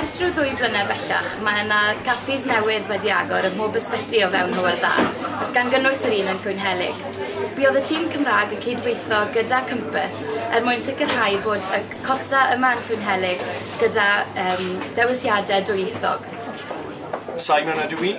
Ers rhyw ddwy flynedd bellach, mae yna gaffis newydd wedi agor ym mhob ysbyty o fewn Hywel Dda, gan gynnwys yr un yn Llwynhelyg. Buodd y tîm Cymraeg yn cyd-weithio gyda Compass er mwyn sicrhau bod y Costa yma yn Llwynhelyg gyda um, dewisiadau dwyieithog. Simon ydw i.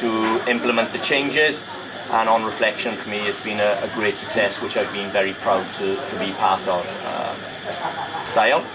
to implement the changes and on reflection for me it's been a, a great success which I've been very proud to, to be part of. Uh, da iawn.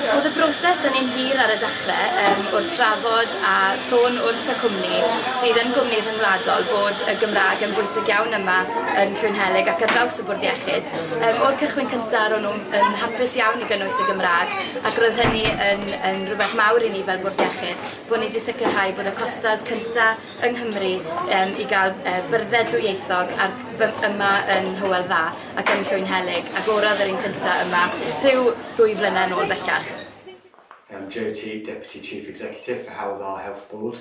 Oedd y broses yn un hir ar y dechrau um, wrth drafod a sôn wrth y cwmni sydd yn gwmni rhyngwladol bod y Gymraeg yn bwysig iawn yma yn Llwynhelig ac ar draws y bwrdd iechyd. Um, o'r cychwyn cyntaf, o'n nhw'n hapus iawn i gynnwys y Gymraeg ac roedd hynny yn, yn rhywbeth mawr i ni fel Bwrdd Iechyd, bod ni wedi sicrhau bod y costas cynta yng Nghymru um, i gael uh, byrdded dwyieithog ar, yma yn Hywel Dda ac yn Llwyn Helig, ac orodd yr un cynta yma rhyw ddwy flynedd yn ôl bellach. Um, Joe Teague, Deputy Chief Executive for Hywel Dda Health Board.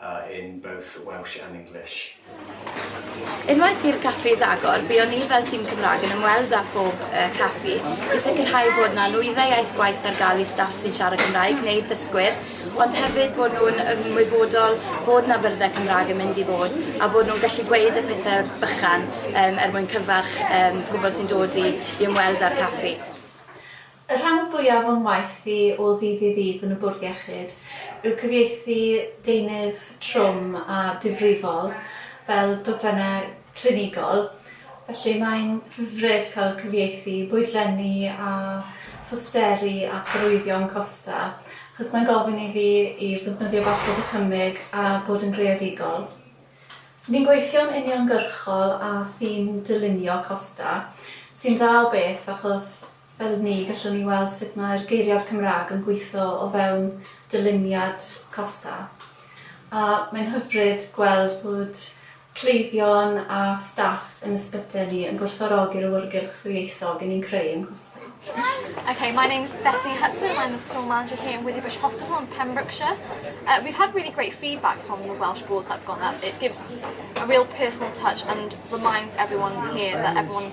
a in both Welsh and English. Unwaith i'r caffis agor, buon ni fel tîm Cymraeg yn ymweld â phob uh, caffi i sicrhau bod na nwyddau iaith gwaith ar gael i staff sy'n siarad Cymraeg neu dysgwyr, ond hefyd bod nhw'n ymwybodol bod na fyrddau Cymraeg yn mynd i fod a bod nhw'n gallu gweud y pethau bychan um, er mwyn cyfarch um, pobl sy'n dod i, i ymweld â'r caffi. Y rhan fwyaf o'm waith i o ddydd i ddydd yn y Bwrdd Iechyd yw cyfieithu deunydd trwm a difrifol fel dogfennau clinigol, felly mae'n hyfryd cael cyfieithu bwydlenni a phosteri ac arwyddion costa, achos mae'n gofyn i fi i ddefnyddio bach o ddychymyg a bod yn greadigol. Ni'n gweithio'n uniongyrchol â thîm dylunio costa, sy'n dda o beth achos Fel ni, gallwn ni weld sut mae'r geiriad Cymraeg yn gweithio o fewn dyluniad Costa. A mae'n hyfryd gweld bod cleifion a staff yn ysbytai ni yn gwerthfawrogi'r awyrgylch ddwyieithog i ni'n creu yn Costa. Okay, my name is Bethy Hudson, I'm the store manager here in Withybush Hospital in Pembrokeshire. Uh, we've had really great feedback from the Welsh wards that have gone up. It gives a real personal touch and reminds everyone here that everyone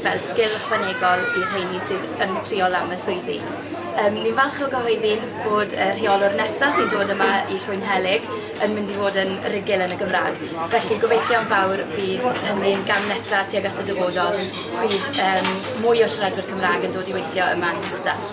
fel sgil ychwanegol i'r rheini sydd yn triol am y swyddi. Um, ni'n falch o gyhoeddi bod y rheolwr nesaf sy'n dod yma i Llwyn Helig yn mynd i fod yn rigil yn y Gymraeg. Felly gobeithio'n fawr bydd hynny'n gam nesaf tuag at y dyfodol, bydd um, mwy o siaradwyr Cymraeg yn dod i weithio yma yn Castell.